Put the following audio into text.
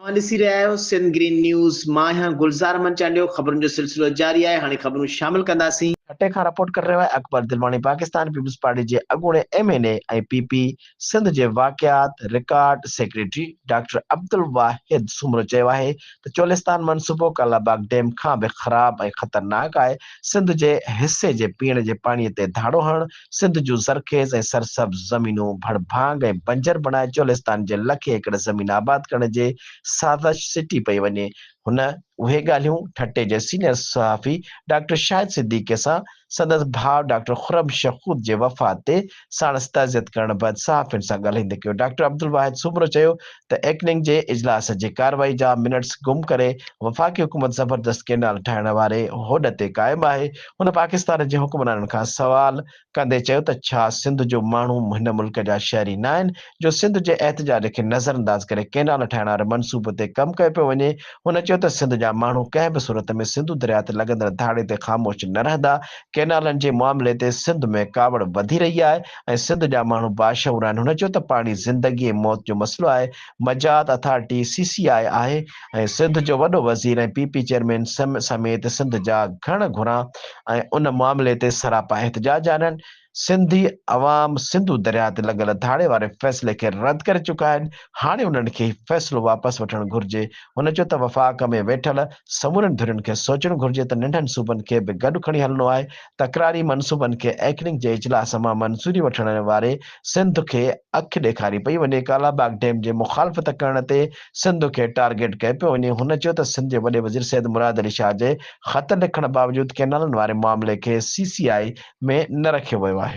اوهان ڏسي رهيا آهيو سنڌ گرين نيوز مان آهيان گلزار احمد چانڊيو خبرن جو سلسلو جاري آهي هاڻي خبرون شامل ڪنداسين. ٺٽي کان رپورٽ ڪري رهيو آهي اڪبر دلواڻي پاڪستان پيپلز پارٽي جي اڳوڻي M N A ۽ P P Sindh جي واقعات record secretary doctor Abdul Wahid Soomro چيو آهي ته چولستان منصوبو ڪالا باغ ڊيم کان به خراب ۽ خطرناڪ آهي سنڌ جي حصي جي پيئڻ جي پاڻي تي ڌاڙو هڻڻ سنڌ جون زرخيز ۽ سرسبز زمينون ڀڙ ڀاڱ ۽ بنجر بڻائي چولستان جي لکين ايڪڙ زمين آباد ڪرڻ جي سازش سٽي پئي وڃي. هن اهي ڳالهيون ٺٽي جي سينيئر صحافي ڊاڪٽر شاهد صديقي سان سندس ڀاء ڊاڪٽر خرم شخوت جي وفات تي ساڻس تعزيت ڪرڻ بعد صحافين سان ڳالهائيندي ڪيو. ڊاڪٽر عبدالواحد سومرو چيو ته ايڪننگ جي اجلاس جي ڪارروائي جا منٽس گم ڪري وفاقي حڪومت زبردست ڪئنال ٺاهڻ واري هوڏ تي قائم آهي، هن پاڪستان جي حڪمرانن کان سوال ڪندي چيو ته ڇا سنڌ جو ماڻهو هن ملڪ جا شهري ناهن جو سنڌ جي احتجاج کي نظرانداز ڪري ڪئنال ٺاهڻ واري منصوبي تي ڪم ڪيو پيو وڃي، هن چيو ته سنڌ جا ماڻهو ڪنهن به صورت ۾ سنڌو درياء تي لڳندڙ ڌاڙي تي خاموش نه رهندا، ڪئنالن جي معاملي تي سنڌ ۾ ڪاوڙ وڌي رهي آهي. ۽ سنڌ جا ماڻهو باشعور آهن، هن چيو ته پاڻي زندگي ۽ موت جو مسئلو آهي، مجاهت اٿارٽي سي سي آء آهي ۽ سنڌ جو وڏو وزير ۽ پي پي چيئرمين سميت سنڌ جا گهڻ گهران ۽ ان معاملي تي سراپا احتجاج آهن، سنڌي عوام سنڌو درياء تي لڳل ڌاڙي واري فيصلي کي رد ڪري چڪا آهن، هاڻي انهن کي هي فيصلو واپس وٺڻ گهرجي، هن چيو ته وفاق ۾ ويٺل سمورين ڌرين کي سوچڻ گهرجي ته ننڍن صوبن کي به گڏ کڻي هلڻو آهي تڪراري منصوبن کي ايڪنڪ جي اجلاس مان منظوري وٺڻ واري سنڌ کي اک ڏيکاري پئي وڃي، ڪالا باغ ڊيم جي مخالفت ڪرڻ تي سنڌ کي ٽارگيٽ ڪيو پيو وڃي، هن چيو ته سنڌ جي وڏي وزير سيد مراد علي شاهه جي خط لکڻ باوجود ڪئنالن واري معاملي کي سي سي آء ۾ نه رکيو ويو آهي.